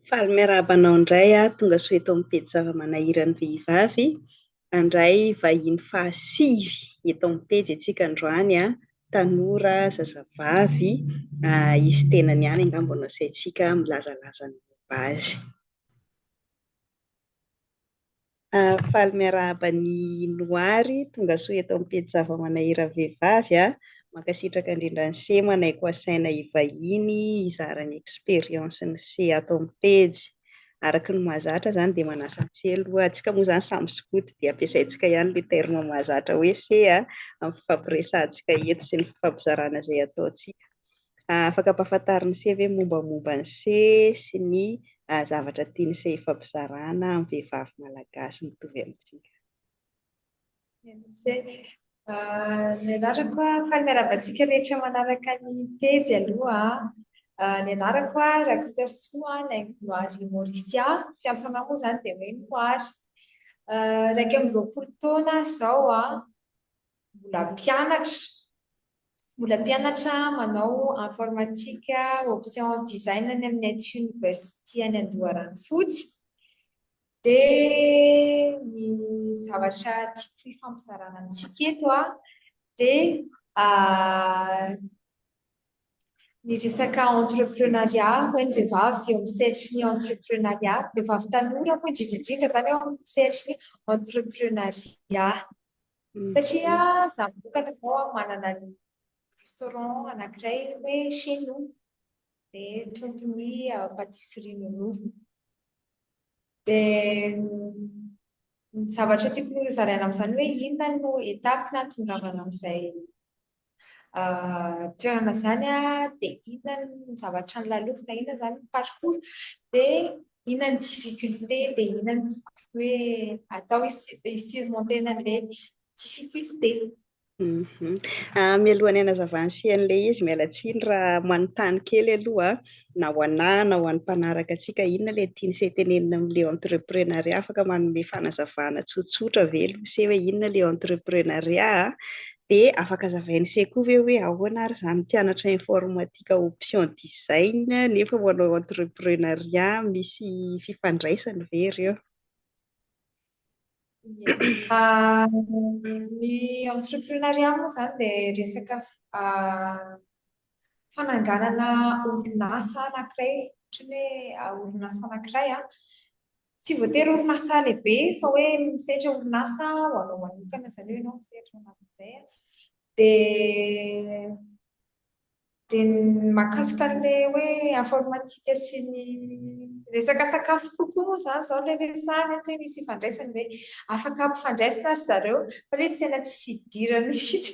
Faly miarahaba anao indray aho, tonga soa eto amin'ny pejy zava-manahiran'ny vehivavy. Handray vahiny fahasivy eto amin'ny pejy isika androany, tanora, zazavavy, izy tenany ihany angamba no asaintsika milazalaza ny momba azy. Faly miarahaba an'i Noary, tongasoa eto amin'ny pejy Zava-manahira Vehivavy a! Mankasitraka indrindra an'i Cee manaiko asaina hivahiny hizara ny expérience-n'i Cee ato amin'ny pejy. Araka ny mahazatra izany dia manasa an'i Cee aloha, antsika moa izany samy skoto dia ampiasaintsika ihany ilay terme mahazatra hoe Cee amin'ny fifampiresahantsika eto sy ny fifampizarana izay ataontsika. Afaka ampahafantarina ny se ve mombamomba ny se sy ny zavatra tian'ny se ifampizarana amin'ny vehivavy malagasy mitovy amintsika? Ny anarako faly miarahaba antsika rehetra manaraka ny pejy aloha. Ny anarako Rakotasoa Naingonoary Mauricia, fiantso anao moa izany dia hoe Noary. Iraika amby roapolo taona aho izao, mbola mpianatra, Mbola mpianatra manao informatique option design any amin'ny Aty University any Andoharanofotsy dia ny zavatra tiako hifampizarana amintsika eto dia ny resaka entrepreneuriat ho an'ny vehivavy eo amin'ny sehatry ny entrepreneuriat, vehivavy tanora moa indrindra indrindra izany eo amin'ny sehatry ny entrepreneuriat. Satria za mivokatra zao an, manana ny restaurant anankiray hoe chez nous, dia trondro ny patisserie nonovina. Dia ny zavatra tiako hozaraina amin'izany hoe inona no étape nahatongavana amin'izay toerana izany dia inona ny zavatra nolalofina, inona izany ny parcours, dia inona ny difficulté, dia inona ny hoe atao hi-surmonter an'ilay difficulté. Mhm. Ah, mialohan'ny hanazavana sy an'ilay izy, miala tsiny raha manontany kely aloha. na ho anah na ho an'ny mpanaraka antsika inona ilay tian'i se tenenina amin'ilay entreprenariat afaka manome fanazavana tsotsotra ve aloha se hoe inona ilay entreprenariat a? dia afaka zavain'i se koa ve hoe ahoana ary izany mpianatra informatika option design nefa manao entreprenariat misy fifandraisany ve ireo Ah, ny entreprenariat moa izany dia resaka ah, fananganana orinasa anankiray ohatran'ny hoe orinasa anankiray a tsy voatery orinasa lehibe fa hoe misehatra orinasa ho anao manokana izany hoe ianao misehatra ho an'izay a dia dia ny mahakasika an'ilay hoe informatika sy ny resaka sakafo kokoa moa izany izao ilay resahana hoe misy ifandraisany hoe afaka hampifandraisina ry zareo fa ilay izy tena tsy idirany mihitsy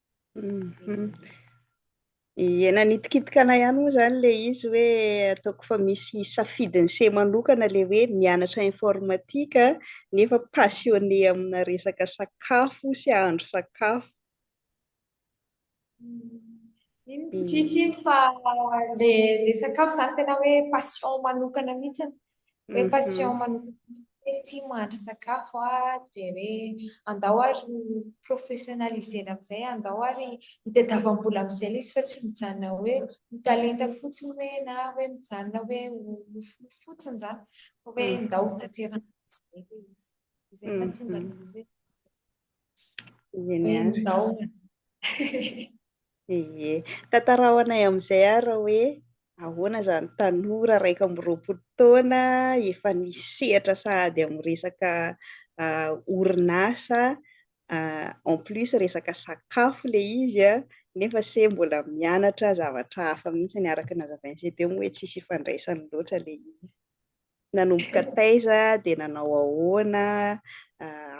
Mhm. Ie nanitikitika anay ihany moa zany le izy hoe ataoko fa misy safidiny se manokana le hoe mianatra informatika nefa passionné amina resaka sakafo sy ahandro sakafo. Iny tsisy iny fa le le sakafo zany tena hoe passion manokana mihitsy. hoe mhm. passion manokana ity mahandro sakafo ah dia hoe andao ary professionnalisena amin'izay andao ary hitadiavam-bola amin'izay ilay izy fa tsy mijanona hoe ho talenta fotsiny hoe na hoe mijanona hoe ho nofinofy fotsiny izany fa hoe mhm. ndao ho tanteraka amin'izay ilay izy izay mahatonga mhm. ilay izy hoe Ie, tantarao anay amin'izay ary hoe ahoana izany tanora iraika amby roapolo taona efa nisy sehatra sahady amin'ny resaka ah, orinasa ah, en plus resaka sakafo le izy a, ah, nefa se mbola mianatra zavatra hafa mihitsy ny araka ny nazavain'i CDM hoe tsisy ifandraisany loatra le izy. Nanomboka taiza dia nanao ahoana,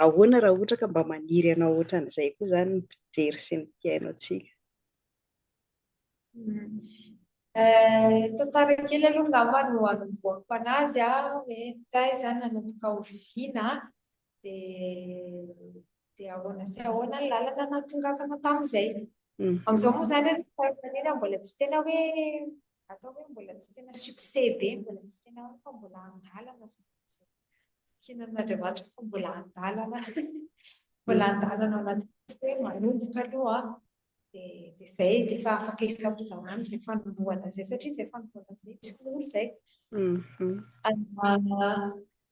ahoana raha ohatra ka mba maniry hanao ohatran'izay koa izany ny mpijery sy ny mpihaino antsika? Tantara kely aloha angamba no hanombohako an'azy hoe taiza nanomboka oviana dia dia ahoana sy ahoana ny lalana nahatongavana tamin'izay. Mm. Amin'izao moa izany rehefa mbola tsy tena hoe atao hoe mbola tsy tena succès be, mbola tsy tena hoe fa mbola an-dalana kinan'Andriamanitra fa mbola an-dalana mbola an-dalana anaty hoe manomboka aloha dia dia izay dia efa afaka ifampizarana izay fanombohana izay satria izay fanombohana izay tsy mora izay. Mm-hmm.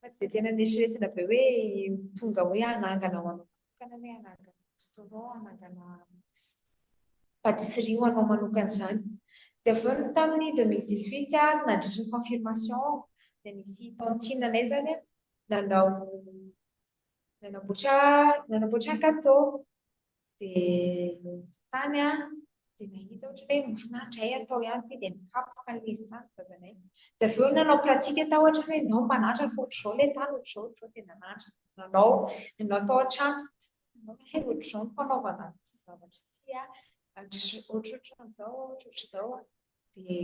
Fa tsy dia tena neritreretina be hoe tonga hoe hanangana ho anao manokana hoe hanangana restaurant, hanangana patisserie ho anao manokana izany. Dia avy eo ny tamin'ny 2018 ary nandritry ny confirmation aho dia nisy tantine anay izany nanao nanamboatra nanamboatra gâteau. Dia tany aho dia nahita ohatra hoe mahafinaritra hay atao ihany ity dia nikapoka ilay izy tany dadanay. Dia avy eo nanao pratique tao ohatra hoe ndao mba hananatra fa ohatr'izao ilay tany ohatr'izao ohatr'izao dia nananatra. Nanao nanao tao an-trano hay ohatr'izao ny fanaovana ity zavatra ity ohatrohatran'izao ohatrohatr'izao dia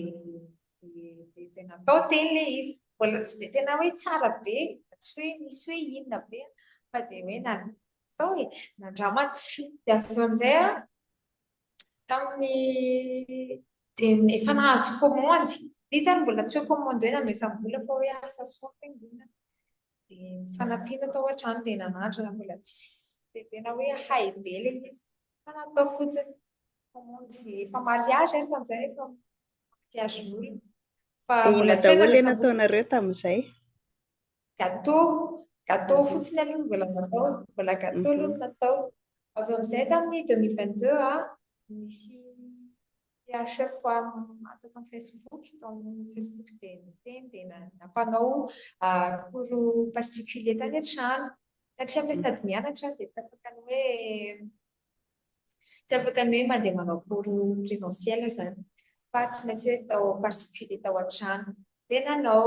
dia dia natao teny ilay izy. Mbola tsy dia tena hoe tsara be, tsy hoe nisy hoe inona be fa dia hoe Izao e, nandramana. Dia avy eo amin'izay, tamin'ny dia efa nahazo kômandy. Dia izany mbola tsy hoe kômandy hoe nandraisam-bola fa hoe asa soa fiangonana. Dia nifanampiana tao an-trano dia nanandrana mbola tsisy dia tena hoe hay be ilay izy. Fa natao fotsiny kômandy efa mariazy izy tamin'izay efa mariazin'olona. Fa mbola tsy hoe nandraisam-bola. Inona daholo ilay nataonareo tamin'izay? Gateau, gateau fotsiny aloha no mbola natao, mbola gateau aloha no natao. Avy eo amin'izay tamin'ny 2022 a, nisy PHF tato amin'ny Facebook, tao amin'ny Facebook dia niteny dia nampanao cours particulier tany an-trano. Satria aho sady mianatra aho dia tsy afaka ny hoe tsy afaka ny hoe mandeha manao cours présentiel izany fa tsy maintsy hoe tao particulier tao an-trano dia nanao.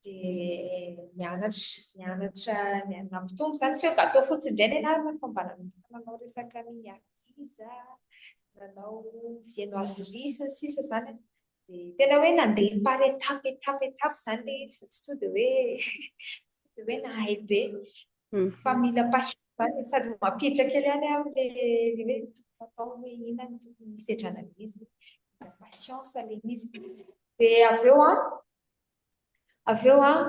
dia mianatra mianatra ny an'ny nampitombo izany tsy hoe gato fotsiny indray ny anarana fa mba nanomboka nanao resaka mini artisa nanao viennoiserie sy ny sisa izany dia tena hoe nandeha par étape étape étape izany ilay izy fa tsy tonga dia hoe tsy tonga dia hoe nahay be hmm. fa mila passion izany sady mampiditra kely ihany aho le le hoe tokony atao hoe inona no tokony hisedrana an'izy mila patience ilay izy dia avy eo an avy eo an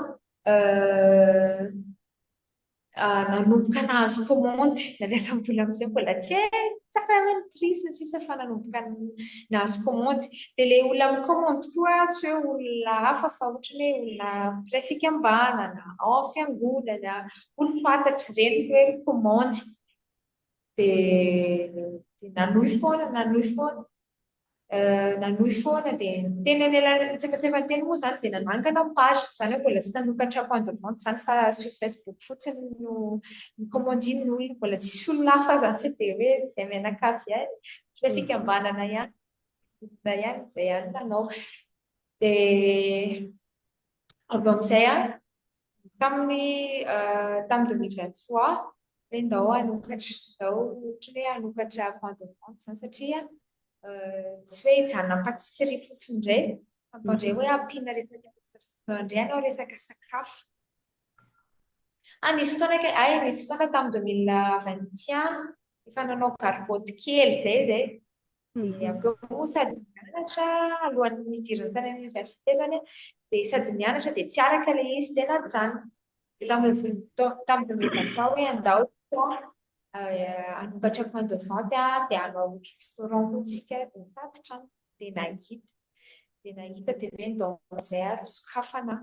nanomboka nahazo commande nalefa mbola amizay mbola tsy hay tsara hoe ny prix sy ny sisa fa nanomboka nahazo commande dia ilay olona mi-commande koa tsy hoe olona hafa fa ohatrany hoe olona mpiray fikambanana ao amin'ny fiangonana olom-pantatra ireny ny hoe commande dia dia nanohy foana nanohy foana nanohy foana dia teny anelanelan'ny tsiefatsiefan'ny teny moa izany dia nanangana page izany hoe mbola tsy nanokatra point de vente izany fa sur facebook fotsiny no nikomandian'ny olona mbola tsisy olona hafa izany fa dia hoe izay mianakavy ihany ilay fikambanana ihany olona ihany izay ihany nanao dia avy eo amin'izay an Tamin'ny tamin'ny 2023 hoe ndao hanokatra, ndao ohatra hoe hanokatra point de vente izany satria tsy hoe hijanona patisserie fotsiny indray fa ndao indray hoe ampiana resaka ndao indray hanao resaka sakafo. Ah, nisy fotoana kay, ay nisy fotoana tamin'ny 2021 efa nanao gargotte kely izay izay. Dia avy eo moa sady mianatra alohan'ny hidirany tany amin'ny oniversite izany aho, dia sady mianatra dia tsy araka ilay izy dia najanona. Dia lamoroniko tamin'ireo mpianatra ahy hoe andao isika hanokatra point de vente dia hanao restaurant koa isika, dia nitatitra aho dia nahita. Dia nahita dia hoe ndao amin'izay ary misokafana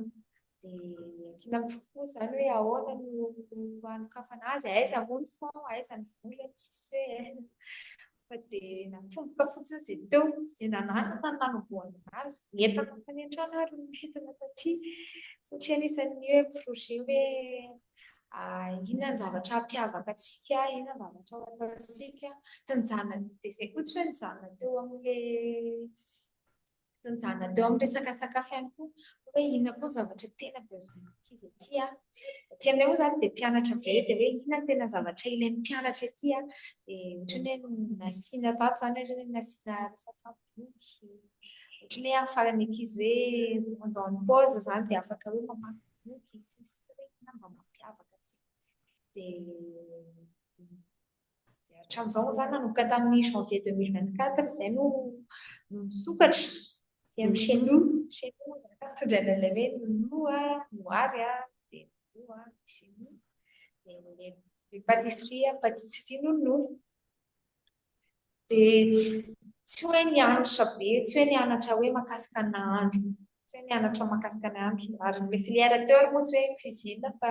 dia miankina amin'ny tompoko izany hoe ahoana no hanokafana azy, aiza moa ny fond, aiza ny vola, tsisy hoe fa dia natomboka fotsiny izay teo, izay nananako no nanombohana azy, nentako tany an-trano ary no nentina taty satria anisan'ny hoe projet hoe inona ny zavatra hampiavaka antsika, inona ny zavatra ho ataontsika, dia izay koa tsy hoe nijanona teo amin'ilay Nijanona teo amin'ny resaka sakafo ihany koa hoe inona koa ny zavatra tena besoin-ny ankizy ety a. Ety aminay moa izany dia mpianatra be dia hoe inona no tena zavatra ilain'ny mpianatra ety a. Dia ohatran'ny hoe nasiana tato izany ohatran'ny hoe nasiana resaka boky, ohatran'ny hoe ahafahan'ny ankizy hoe pendant ny pause izany dia afaka hoe mamaky boky sy ny sisa hoe inona no mba mampiavaka antsika. Dia. Dia hatramin'izao za nanomboka tamin'ny janvier 2024 izay no no nisokatra. Dia amin'ny chez nous, chez nous zaka mitondra an'ilay hoe nounou a, noary a, dia nounou a, dia chez nous. Dia le le pâtisserie a, pâtisserie nounou. Dia tsy tsy hoe nianatra be, tsy hoe nianatra hoe mahakasika ny nahandro Tsy nianatra mahakasika ny andro ary ilay filière teo ary moa tsy hoe cuisine fa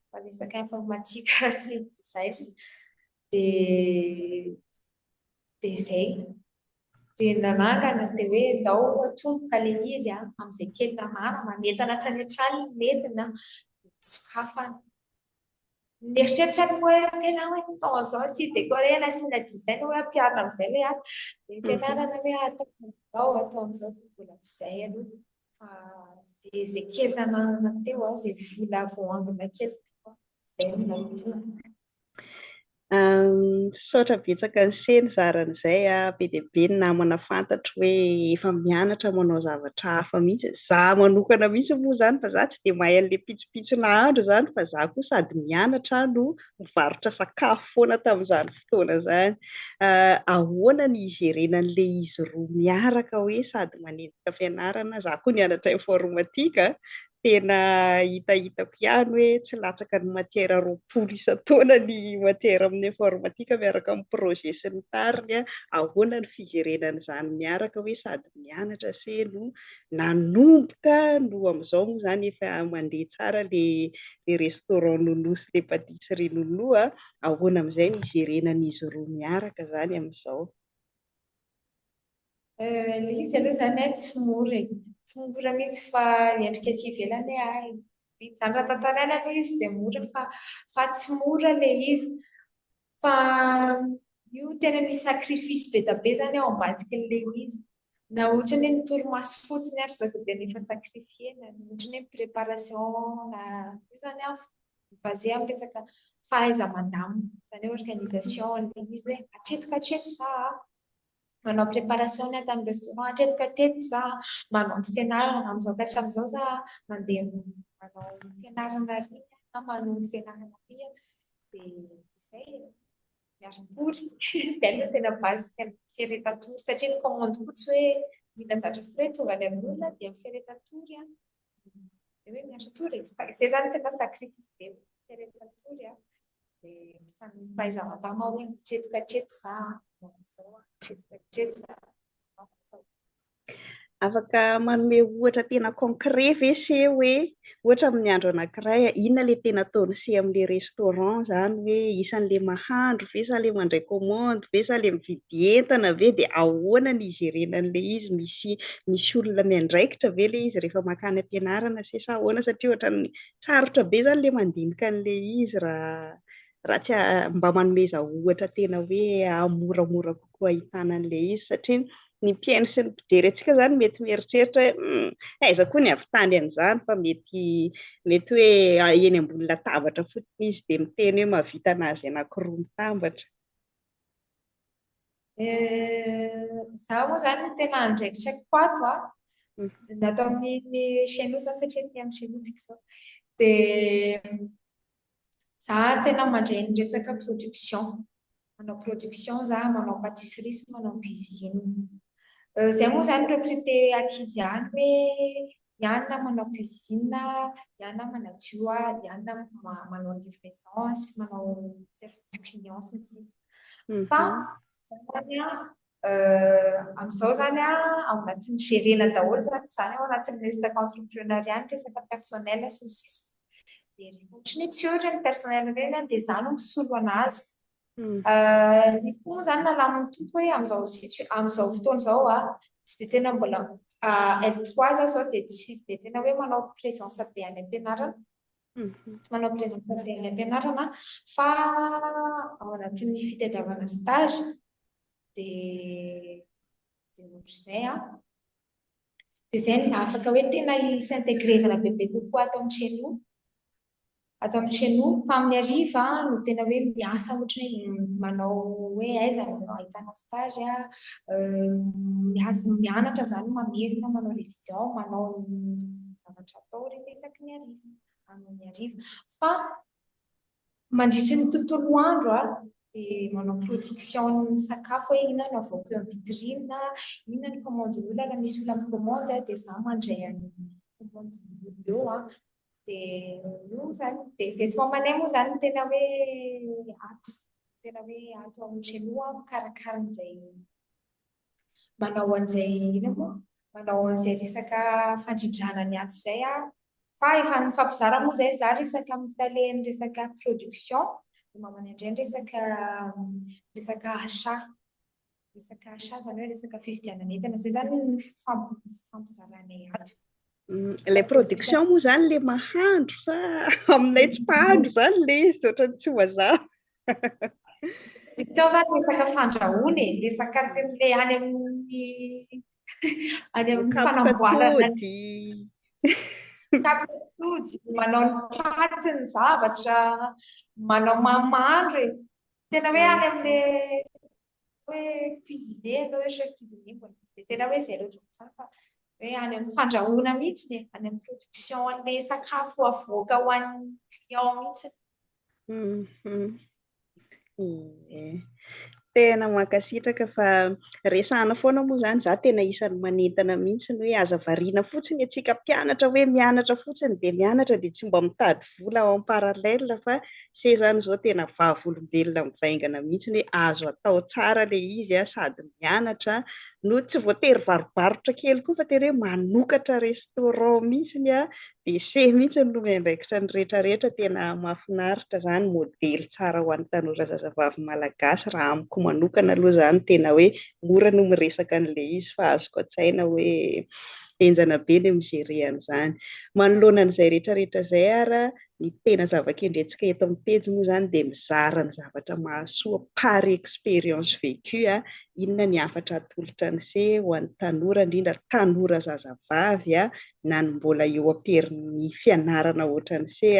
fa resaka informatika sy design dia dia izay dia nanangana dia hoe ndao atomboka ilay izy a amin'izay kely namana manentana tany an-tranony ny nenina dia sokafana Mieritreritra ny hoe tena hoe tao izao ity décorer na asiana design hoe ampiharina amin'izay ilay asa. Dia ampianarana hoe atao amin'izao, atao amin'izao dia mbola tsy izay aloha. Fa izay izay kely nananana teo, izay vola voaangona kely teo, izay no nanitsina. Misaotra betsaka anse nizara an'izay a, be dia be ny namana fantatro hoe efa mianatra manao zavatra hafa mihitsy, za manokana mihitsy moa zany fa za tsy dia mahay an'le pitsopitso nahandro zany fa za koa sady mianatra no mivarotra sakafo foana tamin'izany fotoana zany, ahoana ny higerena an'le izy roa miaraka hoe sady manenjika fianarana, za koa nianatra informatique a, Tena hitahitako ihany hoe tsy latsaka ny matière roapolo isan-taona ny matière amin'ny informatique miaraka amin'ny projet sy ny tariny a! Ahoana ny fijerena an'izany miaraka hoe sady mianatra se no nanomboka no amin'izao moa izany efa mandeha tsara ilay restaurant Nounou sy ilay pâtisserie Nounou a! Ahoana amin'izay ny hijerenan'izy roa miaraka izany amin'izao? Ilay izy aloha izany tsy mora e. Tsy mora mihitsy fa endrika aty ivelany hoe hay. Izany raha tantaraina aloha izy dia mora fa fa tsy mora ilay izy. Fa io tena misy sacrifice be dia be izany ao ambadiky an'ilay izy. Na ohatran'ny hoe ny torimaso fotsiny ary izao dia tena efa sacrifier-na. Ohatran'ny hoe préparation na io izany an, mi-baser amin'ny resaka fahaiza-mandamina, izany hoe organisation an'ilay izy hoe hatreto ka hatreto izaho a, manao préparation ny ahy tamin'ny restaurant, hatreto ka hatreto izaho a, manao ny fianarana, amin'izao ka hatramin'izao izaho a, mandeha manao ny fianarana àry a, na manohy ny fianarana àry a, dia izay e, ny hari-tory, izay aloha no tena base-n'ny fiaretan-tory satria ny commande koa tsy hoe mila zatra frais tonga any amin'olona dia ny fiaretan-tory a, Dia hoe miandry tour e. Izay izany tena sacrifice be rehefa tour a. Dia mifanompa izaho am-bama hoe hatreto ka hatreto za, manao an'izao aho, hatreto ka hatreto za, manao an'izao. Afaka manome ohatra tena concret ve se hoe ohatra amin'ny andro anankiray inona ilay tena ataony se amin'ilay restaurant izany hoe isan'ilay mahandro ve sa ilay mandray commande ve sa ilay mividy dia entana ve dia ahoana ny hijerena an'ilay izy, misy misy olona miandraikitra ve ilay izy rehefa mankany am-pianarana se sa ahoana satria ohatran'ny sarotra be izany ilay mandinika an'ilay izy raha raha tsy mba manomeza ohatra tena hoe moramora kokoa ahitana an'ilay izy satria ny mpihaino sy ny mpijery antsika izany mety mieritreritra hoe hmm, aiza koa ny avy tany an'izany fa mety mety hoe ah, eny ambony latabatra fotsiny izy dia miteny hoe mahavita nazy anankiroa mitambatra Zaho moa zany tena andraikitra ko ato a. Natao amin'ny chenaux za satria aty amin'ny chenaux tsika zao. De za tena mandray ny resaka production. Manao production za, manao pâtisserie sy manao cuisine. Zay moa zany recruter ankizy ihany hoe Ianona manao cuisine, ianona manadio, ianona manao livraison sy manao service client sy ny sisa. Fa zany amin'izao zany ao anatin'ny gerena daholo zany zany ao anatin'ny resaka entrepreneuriat ny resaka personnel sy ny sisa. Dia rehefa ohatry ny hoe tsy eo ireny personnel ireny dia izaho no misolo an'azy. Ny fo moa izany nalamin'ny Tompo hoe amin'izao situa- amin'izao fotoana izao a, tsy dia tena mbola L trois za izao dia tsy dia tena hoe manao présence be any am-pianarana, tsy manao présence be any am-pianarana fa ao anatin'ny fitadiavana stage dia dia ohatr'izay a. Dia izay no mba afaka hoe tena hi-s'intégrer-vana bebe kokoa ato amin'ny CNO. ato amin'ny chez nous fa amin'ny hariva no tena hoe miasa ohatry ny hoe manao hoe aiza no ahitana stage a miasa mianatra izany mamerina manao révision manao zavatra atao rehefa isaky ny hariva amin'ny hariva fa mandritry ny tontolo andro a dia manao production ny sakafo hoe inona no avoaka eo amin'ny vitrine inona ny commande olona raha misy olona mikomandy dia za mandray an'ny commande olona eo a Dia io izany, dia zesy mamanay moa izany tena hoe ato, tena hoe ato amin'ny Genoa mikarakara an'izay manao an'izay ina moa, manao an'izay resaka fandrindrana ny ato izay aho. Fa efa nifampizara moa izay za resaka amin'ny tale ny resaka production, ny mamanay indray ny resaka resaka achat. Resaka achat zany hoe resaka fividianana entana, zay zany ny fifampizaranay ato. Mm, ilay production moa zany le mahandro sa aminay tsy mpahandro zany le izy ohatrany tsy mazava. Production zany resaka fandrahoana e, resaka le any amin'ny any amin'ny fanamboarana tapitody, manao ny paty ny zavatra, manao mamandro e. Tena hoe any amin'le hoe cuisiner ianao hoe chef cuisinier mbola tsy dia tena hoe izay loatra izany fa hoe any amin'ny fandrahoana mihitsy e, any amin'ny production an'ilay sakafo avoaka ho an'ny client mihitsy. Mhm. Ie. Tena mankasitraka fa resahana foana moa izany za tena isan'ny manentana mihitsy ny hoe aza variana fotsiny antsika mpianatra hoe mianatra fotsiny dia mianatra dia tsy mba mitady vola en parallèle fa se zany zao tena vavolombelona mivaingana mihitsy hoe azo atao tsara le izy a, sady mianatra a, no tsy voatery varobarotra kely koa fa tena hoe manokatra restaurant mihitsy a, de se mihitsy no miandraikitra ny rehetra rehetra, tena mafinaritra zany, modely tsara ho an'ny tanora zazavavy malagasy raha amiko manokana aloha zany, tena hoe mora no miresaka anle izy fa azoko atsaina hoe henjana be ny mi-gérer an'izany. Manoloana an'izay rehetrarehetra izay ary, ny tena zava-kendrentsika eto amin'ny pejy moa izany dia mizara ny zavatra mahasoa par expérience vécue, inona ny hafatra atolotra an'i se ho an'ny tanora, indrindra ary tanora zazavavy na ny mbola eo am-perin'ny fianarana hoatran'i se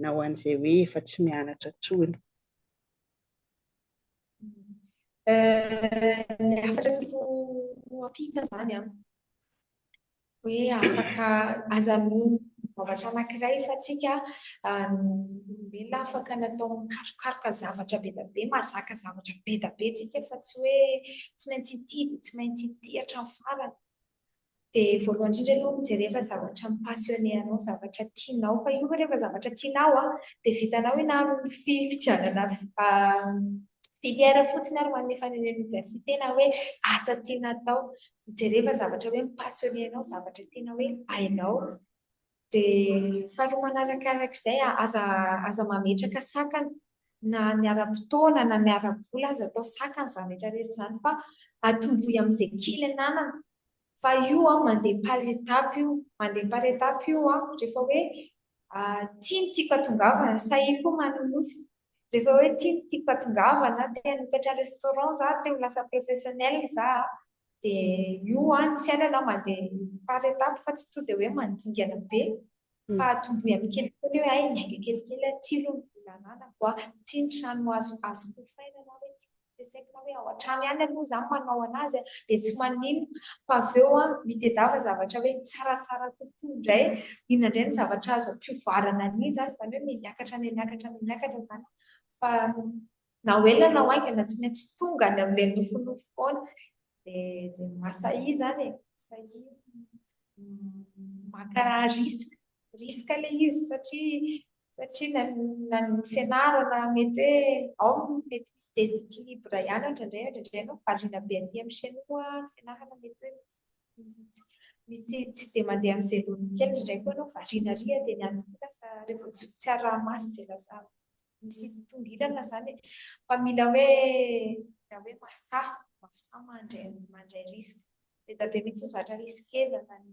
na ho an'izay hoe efa tsy mianatra intsony. Ny hafatra tiako ho ampiana izany an, hoe afaka aza mino zavatra anankiray fa tsika olombelona afaka natao mikarokaroka zavatra be dia be, mahazaka zavatra be dia be tsika fa tsy hoe tsy maintsy ity dia tsy maintsy ity hatramin'ny farany. dia voalohany indrindra aloha mijereva zavatra mi-passionner anao, zavatra tianao, fa io rehefa zavatra tianao an, dia vitanao ianao ny fifidianana filière fotsiny ary ho an'ny efa any université na hoe asa tiana atao, mijereva zavatra hoe mi-passionner anao, zavatra tena hoe hainao. Dia faharoa manaraka araka izay, aza aza mametraka sakana na ny ara-potoana na ny ara-bola aza atao sakana izany rehetra rehetra izany fa atomboy amin'izay kely ananana fa io mandeha par étape io, mandeha par étape io rehefa hoe tia ny tiako hatongavana, sahia koa manonofy Rehefa hoe ity no tiako hatongavana, te hanokatra restaurant za, te ho lasa professionnel za, dia io an, ny fiainana mandeha par étape fa tsy tonga dia hoe mandingana be fa atombohy amin'ny kelikely hoe hay niainga kelikely aho, ity aloha ny vola ananako an, ity ny trano azoko ofaina na hoe ity ny ampiasaina hoe ao an-trano ihany aloha izaho no manao an'azy dia tsy maninona fa avy eo misy tadiava zavatra hoe tsaratsara kokoa indray, inona indray ny zavatra azo ampivoarana an'iny izany, izany hoe miakatra an'iny miakatra an'iny miakatra izany fa na ho ela na ho haingana tsy maintsy tonga any amin'ilay nofinofy foana dia masahy izany e, masahy maka risque, risque ilay izy satria satria na ny fianarana mety hoe ao ny mety misy déséquilibre ihany indraindray indraindray ianao variana be aty amin'ny chinois ny fianarana mety hoe misy misy tsy dia mandeha amin'ny zay loha kely indraindray koa ianao variana ary dia ny antony koa lasa rehefa tsy tsy araha-maso dia lasa misy tongilana izany e fa mila hoe mila hoe masaha masaha mandray mandray risque be dia be mihitsy ny zatra risquer na ny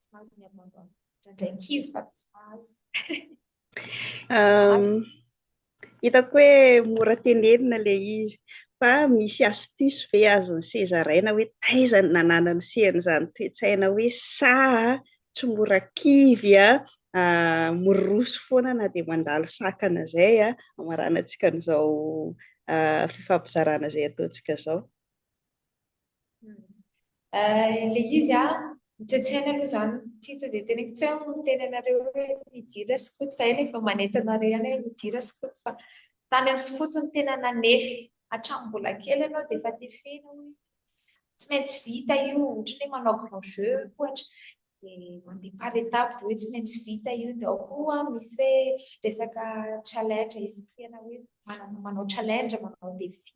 tsy mahazo ny abandon indraindray kivy fa tsy mahazo hitako hoe mora tenenina le izy fa misy astuce ve azon'ny sezaraina hoe taiza ny nananany sehan'izany toetsaina hoe sa tsy mora kivy a miroso foana na dia mandalo sakana izay a amaranantsika an'izao fifampizarana izay ataontsika izao Ilay izy a, ny toe-tsaina aloha izany tsy tonga dia teneniko tsy hoe miteny anareo hoe midira sy koto fa eny efa manentana anareo ihany hoe midira sy koto fa tany amin'ny sy koto no tena nanefy hatramin'ny mbola kely ianao dia efa tefena hoe tsy maintsy vita io ohatra hoe manao grand jeu ohatra dia mandeha par étape dia hoe tsy maintsy vita io dia ao koa misy hoe resaka challenge esprit ana hoe manao challenge manao défi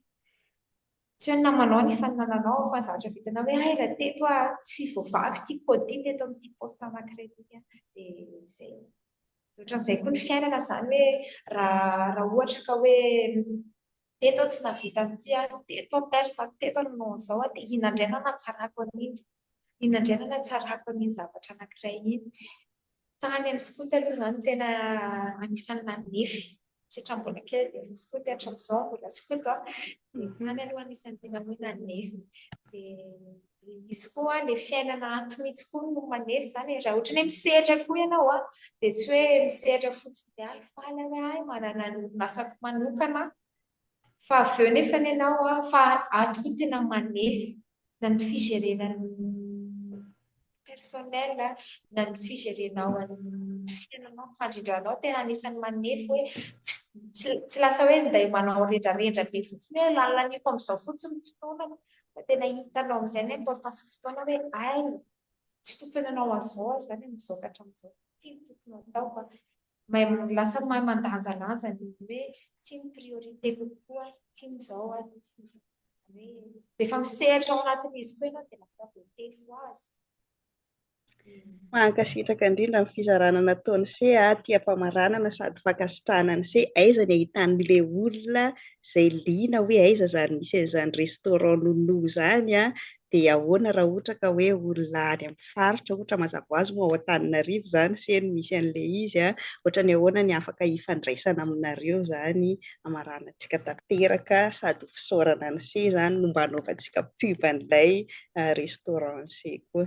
Tsy hoe namanao ny faninananao aho fa zavatra vitanao hoe hay raha teto ah tsy voavaky ity code ity teto amin'ity poste anankiray ity dia izay. Dia ohatran'izay koa ny fiainana izany hoe raha ohatra ka hoe teto aho tsy nahavita an'ity ah, teto aho perte ah, teto aho nanao an'izao ah dia inona indray no hanatsarako an'iny, inona indray no hanatsarako an'iny zavatra anankiray iny. Tany amin'ny skoto aloha izany tena anisan'ny nanefy satria mbola kely dia efa skoto hatramin'izao mbola skoto aho. Tany aloha anisan'ny tena hoe nanefy. Dia izy koa ilay fiainana ato mihitsy koa no manefy izany. Raha ohatra hoe misehatra koa ianao dia tsy hoe misehatra fotsiny dia ahy faly aho hoe ahy manana ny asako manokana Fa avy eo nefa ny anao a, fa ato koa tena manely na ny fijerena ny personnel a, na ny fijerenao an'ny fiainanao, ny fandrindranao tena anisan'ny manefy hoe tsy tsy lasa hoe minday manao rendrarendra be fotsiny hoe lalaniko amin'izao fotsiny ny fotoanako fa tena hitanao amin'izay ny importance ny fotoana hoe hay tsy tokony hanao an'izao aho izany amin'izao ka hatramin'izao, ity no tokony ho ataoko a, Lasa mahay mandanjalanja ny hoe ity ny priorité kokoa, ity ny izao ary ity ny izao. Izany hoe rehefa misehatra ao anatin'izy koa ianao dia lasa voatefy ho azy. Mankasitraka indrindra amin'ny fizarana nataon'i se a, tia ampamaranana sady fankasitrahana an'i se, aiza ny ahitan'le olona izay liana hoe aiza izany misy an'izany restaurant Nounou izany a, dia ahoana raha ohatra ka hoe olona any amin'ny faritra ohatra mazava ho azy moa ao Antananarivo izany se no misy an'ilay izy a, ohatra ny ahoana ny afaka hifandraisana aminareo izany hamaranantsika tanteraka sady ho fisaorana an'i se izany no mba hanaovantsika pub an'ilay restaurant an'i se koa.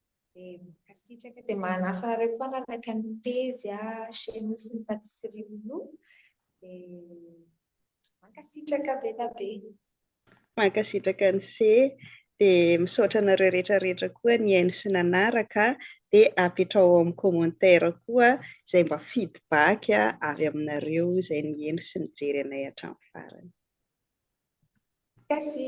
Dia mankasitraka dia manasa anareo koa hanaraka ny pejy chez nous sy ny patisserie Loulou dia mankasitraka be da be. Mankasitraka ny se dia misaotra anareo rehetra rehetra koa nihaino sy nanaraka dia apetrao amin'ny commentaire koa izay mba feedback avy aminareo izay nihaino sy nijery anay hatramin'ny farany. Kasi.